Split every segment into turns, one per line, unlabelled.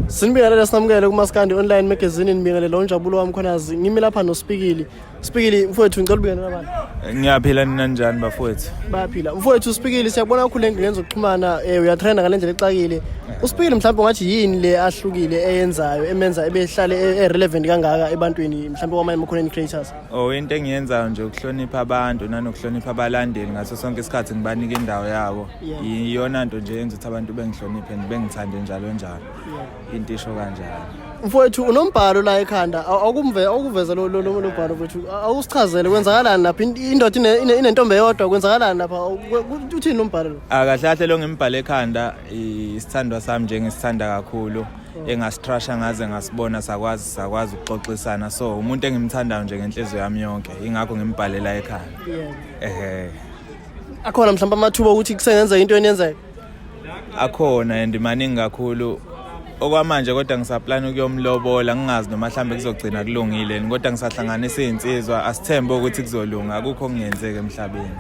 sinibingelela sinamukele kumaskandi online magazine nibingelela unjabulo wami khonazi ngimi lapha nospikili spikili mfowethu ngicela ubingelela abantu ngiyaphila nina
njani bafowethu bayaphila mfowethu
uspikili siyabona kakhulu le ngane zokuxhumana um uyatrenda ngale ndlela exakile uspikili mhlawumbe ungathi yini le ahlukile eyenzayo emenza ebehlale e-, e-relevant kangaka ebantwini mhlawumbe kwamanye ama-content creators o oh, into engiyenzayo
nje ukuhlonipha abantu nanokuhlonipha abalandeli ngaso sonke isikhathi ngibanike indawo yabo iyona nto nje yenza ukuthi abantu bengihloniphe and bengithande njalo njalo into isho kanjalo mfowethu
unombhalo la ekhanda awukuveza lo mbhalo mfowethu awusichazele kwenzakalani lapha indoda inentombi eyodwa kwenzakalani lapha uthini umbhalo lo akahle ah, kahle lo ngimbhale
ekhanda isithandwa sami nje ngisithanda kakhulu oh. engasitrasha ngaze ngasibona sakwazi sakwazi ukuxoxisana so umuntu engimthandayo nje ngenhliziyo yami yonke ingakho ngimbhalela ekhanda ehe
akhona mhlawumbe amathuba okuthi kusengenzeka into eniyenzeka akhona
and maningi kakhulu okwamanje kodwa ngisaplana ukuyomlobola ngingazi noma mhlawumbe kuzogcina kulungile kodwa ngisahlanganisa iy'nsizwa asithembe ukuthi kuzolunga akukho okungenzeki emhlabeni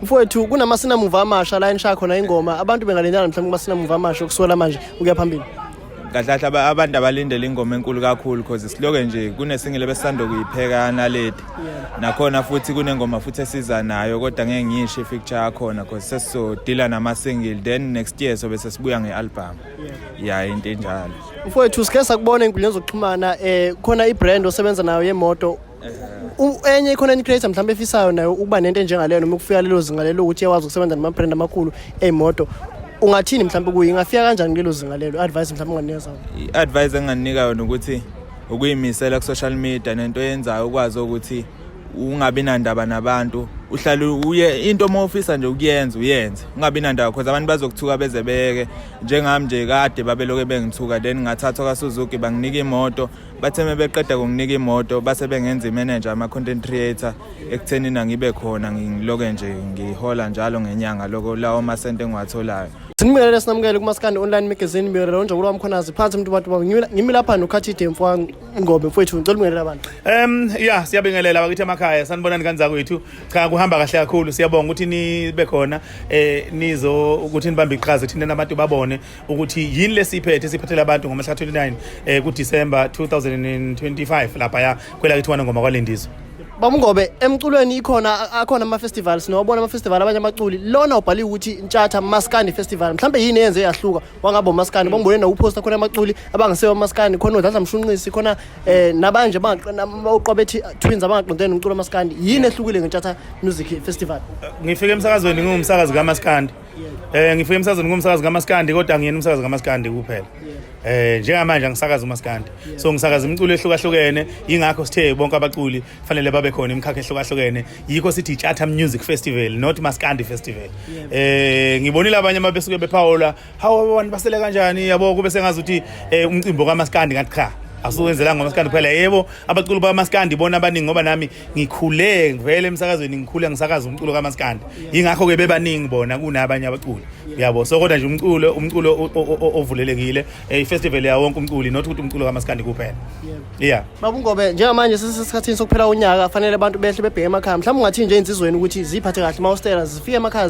mfowethu
kunamasinamumva amasha la enisha khona ingoma abantu bengalendana mhlawumbe kumasinamuva amasha okusuka la manje ukuya phambili kahle kahle
abantu abalindele ingoma enkulu kakhulu cause siloke nje kunesingile besisanda kuyipheka naledi nakhona futhi kunengoma futhi esiza nayo kodwa ngeke ngiyisho ifeature yakhona cause sesizodila nama-single then next year sobe sesibuya nge-albhamu ya into enjalo mfowethu sike
sakubona ey'nkundleni zokuxhumana um khona i-brand osebenza nayo yemoto enye i-content creator mhlawumbe efisayo nayo ukuba nento enjengaleyo noma ukufika lelo zinga lelo ukuthi iyakwazi ukusebenza nama-brand amakhulu ey'moto ungathini mhlawumbe kuye ingafika kanjani kulelo zinga lelo i-advice mhlawumbe unganikeza i-advice enginganika yona
ukuthi ukuyimisela ku-social media nento yenzayo ukwazi ukuthi ungabi nandaba nabantu uhlale uye into uma ufisa nje ukuyenza uyenze ungabi nandaba because abantu bazokuthuka beze beke njengami nje kade babeloke bengithuka then ngathathwa kasuzuki banginika imoto bathe uma beqeda kunginika imoto base bengenza imenenja ama-content creator ekutheni nangibe khona ngiloke nje ngihola njalo ngenyanga loko lawo masente engiwatholayo sinibingelele sinamukele
kumaskandi online magazine ngibingelele unjabulo wami khonazi phansi mntu bantu bami ngimi lapha nokhathide mfwa ngobe mfowethu ngicela ubingelele abantu um ya siyabingelela
bakithi emakhaya sanibonani kanjani kwethu cha kuhamba kahle kakhulu siyabonga ukuthi nibe khona eh nizo ukuthi nibambe iqhaza thina nabantu babone ukuthi yini lesiphethe esiphathela abantu ngomhla 29 eh ku December 2025 lapha ya kwela kithi wana ngoma kwalendizwe Bamngobe
emculweni ikhona akhona ama festivals nobona ama festival abanye amaculi lona ubhali ukuthi Ntshatha Maskandi Festival mhlambe yini yenze yahluka wangabo Maskandi bambone na uposta khona amaculi abangasewa Maskandi khona udlala mshunqisi khona eh nabanje abaqobethi twins abangaqondene umculo Maskandi yini ehlukile ngeNtshatha Music Festival Ngifike emsakazweni
ngingumsakazi kaMaskandi Eh ngifike emsakazweni ngumsakazi kaMaskandi kodwa ngiyena umsakazi kaMaskandi kuphela. Eh njengamanje angisakazi uMaskandi. So ngisakaza imiculo ehlukahlukene ingakho sithe bonke abaculi fanele babe khona imikhakha ehlukahlukene. Yikho sithi Charter Music Festival not Maskandi Festival. Eh ngibonile abanye ababesuke bephawula how abantu basele kanjani yabo kube sengazi ukuthi eh, umcimbi kaMaskandi ngathi cha. Asuwenzela ngoMaskandi kuphela yebo abaculi baMaskandi bona abaningi ngoba nami ngikhule ngivele emsakazweni ngikhule ngisakaza umculo kamaskandi yingakho ke bebaningi bona kunabanye abaculi uyabo so kodwa nje umculo umculo ovulelekile eh, ifestival ya wonke umculi not ukuthi umculo kamaskandi kuphela yeah babungobe
njengamanje sisesikhathini sokuphela unyaka kufanele abantu behle bebheke emakhaya mhlawumbe ungathi nje insizweni ukuthi ziphathe kahle mawustela zifike emakhaya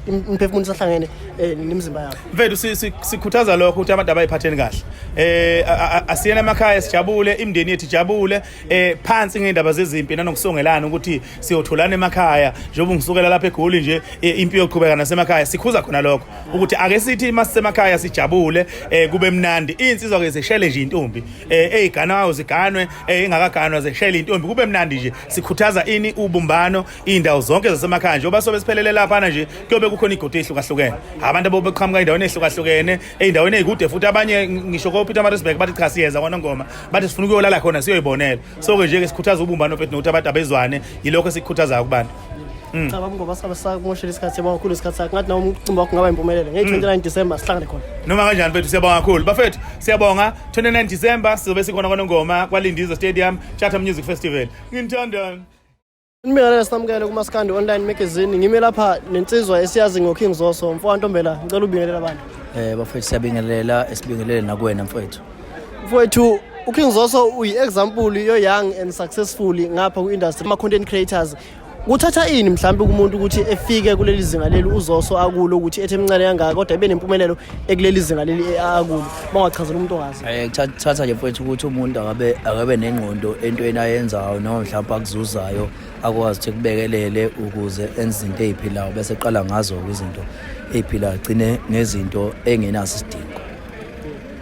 imphefumulo sahlangene eh, nemizimba yabo mfethu
sikhuthaza lokho ukuthi abantu abayiphatheni kahle eh asiyena emakhaya sijabule imndeni yethu ijabule eh phansi ngendaba zezimpi nanokusongelana ukuthi siyotholana emakhaya njengoba ngisukela lapha eGoli nje eh, impi yoqhubeka nasemakhaya sikhuza khona lokho ukuthi ake sithi masisemakhaya sijabule eh kube mnandi insizwa ke zeshele nje intombi eh eziganwayo ziganwe eh ingakaganwa zeshele intombi kube mnandi nje sikhuthaza ini ubumbano indawo zonke zasemakhaya njengoba sobe siphelele lapha nje kuyobe kukhona igodo ehlukahlukene abantu abobeqhamuka endaweni ehlukahlukene ey'ndaweni ey'kude futhi abanye ngisho kopeter marisburg bathi cha siyeza kwanongoma bathi sifuna ukuyolala khona siyoyibonela so-ke nje-ke sikhuthaza ubumbano bethu nokuthi abantu abezwane yilokho esikukhuthazayo kubantu mm. cha baba ngoba
sabe sakumoshela isikhathi siyabonga kakhulu isikhathi sakho ngathi nawo umcimbi wakho ngaba impumelelo ngeyi-29 mm. december sihlangane khona noma kanjani bethu siyabonga
kakhulu bafethu siyabonga 29 december sizobe sikhona kwanongoma kwalindizwe stadium charter music festival nginithandani Nibingelele
samukele kuMaskandi Online Magazine. Ngime lapha nensizwa esiyazi ngoKing Zoso. Mfowethu Ntombela, ngicela ubingelela abantu. Eh bafethu siyabingelela
esibingelele nakuwena mfowethu. Mfowethu
uKing Zoso uyi-example yo-young and successful ngapha ku-industry ama-content creators kuthatha ini mhlawumbe kumuntu ukuthi efike kuleli zinga leli uzoso akulo ukuthi ethe mncane kangaka kodwa ibe nempumelelo ekuleli zinga leli akulo bangachazela umuntu ongazi eh thatha nje mfowethu
ukuthi umuntu akabe akabe nengqondo entweni ayenzayo noma mhlawumbe akuzuzayo akwazi ukuthi kubekelele ukuze enze izinto eziphilayo bese qala ngazo izinto eziphilayo gcine nezinto engenasidingo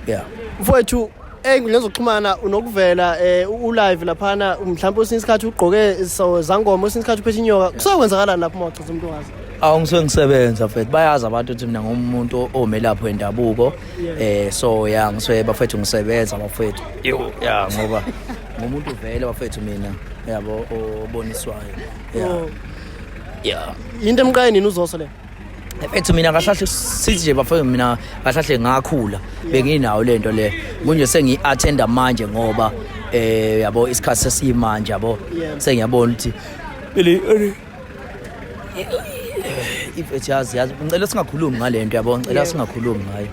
yeah mfowethu
ey'nkundleni zokuxhumana unokuvela um ulive laphana mhlawumpe usinye isikhathi ugqoke so zangoma usinye isikhathi uphethe inyoka kusakwenzakalani lapho uma uchaza umuntu wazi awu ngisuke ngisebenza
mfethu bayazi abantu ukuthi mina ngumuntu omelaphi wendabuko um so ya ngisuke bafethu ngisebenza bafethu yo ya ngoba ngumuntu vele bafethu mina yabo oboniswayo ya Oh.
ya yinto emqaye nini uzoso le Mfethu mina
kahlahle sithi nje bafethu mina kahlahle ngakhula benginawo lento le kunje sengi attenda manje ngoba eh yabo isikhathi sesimanje yabo sengiyabona ukuthi Billy ifethu yazi yazi ngicela singakhulumi ngalento yabo ngicela singakhulumi ngayo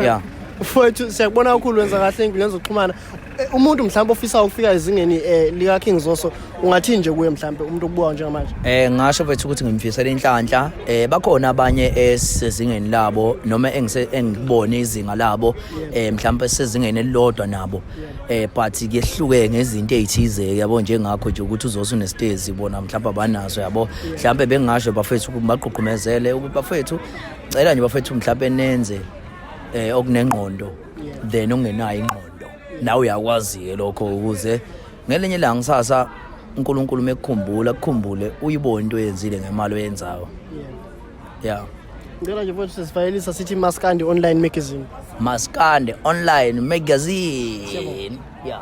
yeah mfowethu
siyakubona kakhulu wenza kahle enkundleni zokuxhumana Eh, umuntu mhlawumbe ofisa ukufika ezingeni eh, lika King Zoso ungathini nje kuye mhlawumbe umuntu okubuka njengamanje eh ngasho bethu ukuthi
ngimfisela inhlanhla eh bakhona abanye esezingeni labo noma engise engibone izinga labo eh mhlawumbe sezingeni elilodwa nabo eh but kuyehluke ngezinto ezithize yabo njengakho nje ukuthi uzosu nestezi bona mhlawumbe abanazo yabo mhlawumbe bengasho bafethu ukuthi baqhuqhumezele ukuthi bafethu cela nje bafethu mhlawumbe nenze eh okunengqondo then ungenayo ingqondo nawe uyakwazi-ke lokho ukuze ngelinye ilanga kusasa unkulunkulu uma ekukhumbula kukhumbule uyibone into oyenzile ngemali oyenzayo ya yeah.
ngicela nje futhi sisifayelisa sithi maskandi online magazine
maskandi
online magazine
ya
yeah.